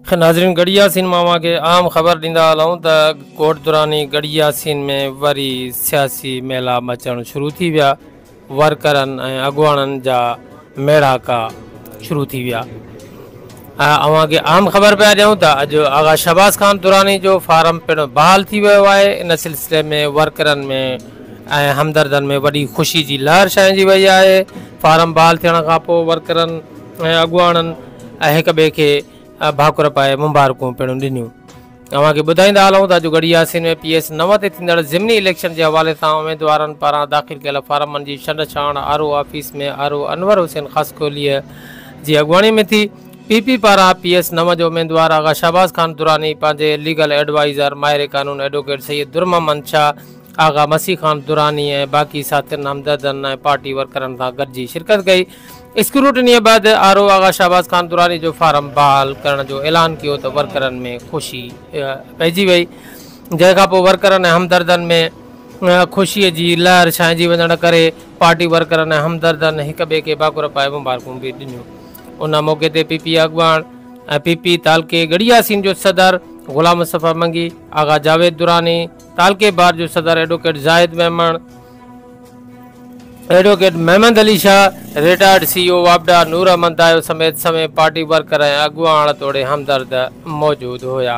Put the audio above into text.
خير ناظرين ڳڙهي ياسين مان اوهان کي اهم خبر ڏيندا هلون ته ڳوٺ دراني ڳڙهي ياسين ۾ وري سياسي ميلا مچڻ شروع ٿي ويا ورڪرن ۽ اڳواڻن جا ميڙاڪا شروع ٿي ويا اوهان کي اهم خبر پيا ڏيون ته اڄ آغا شهباز خان دراني جو فارم پڻ بحال ٿي ويو آهي ان سلسلي ۾ ورڪرن ۾ ۽ همدردن ۾ وڏي خوشي جي لهر ڇائنجي وئي آهي فارم بحال ٿيڻ کان پوء ورڪرن ۽ اڳواڻن ۽ هڪ ٻئي کي ڀاڪر پائي مبارڪون پڻ ڏنيون. اوهان کي ٻڌائيندا هلون ته اڄ ڳڙهي ياسين ۾ پي ايس نو تي ٿيندڙ ضمني اليڪشن جي حوالي سان اميدوارن پاران داخل ڪيل فارمن جي ڇنڊ ڇاڻ R O office ۾ R O Anwar Hussain خاصخيليء جي اڳواڻي ۾ ٿي. پي پي پاران پي ايس نو جو اميدوار آغا شهباز خان دراني پنهنجي ليگل ايڊوائيزر ماهر قانون ايڊووڪيٽ سيد درمحمد شاهه، آغا مسيح خان دراني ۽ باقي ساٿين، همدردن ۽ پارٽي ورڪرن سان گڏجي شرڪت ڪئي. اسڪروٽنيء بعد آر او آغا شهباز خان دراني جو فارم بحال ڪرڻ جو اعلان ڪيو ته ورڪرن ۾ خوشي پئجي وئي جنهن کانپوء ورڪرن ۽ همدردن ۾ خوشي جي لهر ڇانئجي وڃڻ ڪري پارٽي ورڪرن ۽ همدردن هڪ ٻئي کي ڀاڪر پائي مبارڪون به ڏنيون ان موقعي تي پي پي اڳواڻ ۽ پي پي تعلقي ڳڙهي ياسين جو صدر غلام مصطفيٰ منگي، آغا جاويد دراني، تعلقي بار جو صدر advocate Zahid Memon, advocate Muhammad Ali Shah, retired C E O واپڊا نور احمد دايو سميت سوين پارٽي ورڪر ۽ اڳواڻ توڙي همدرد موجود هيا.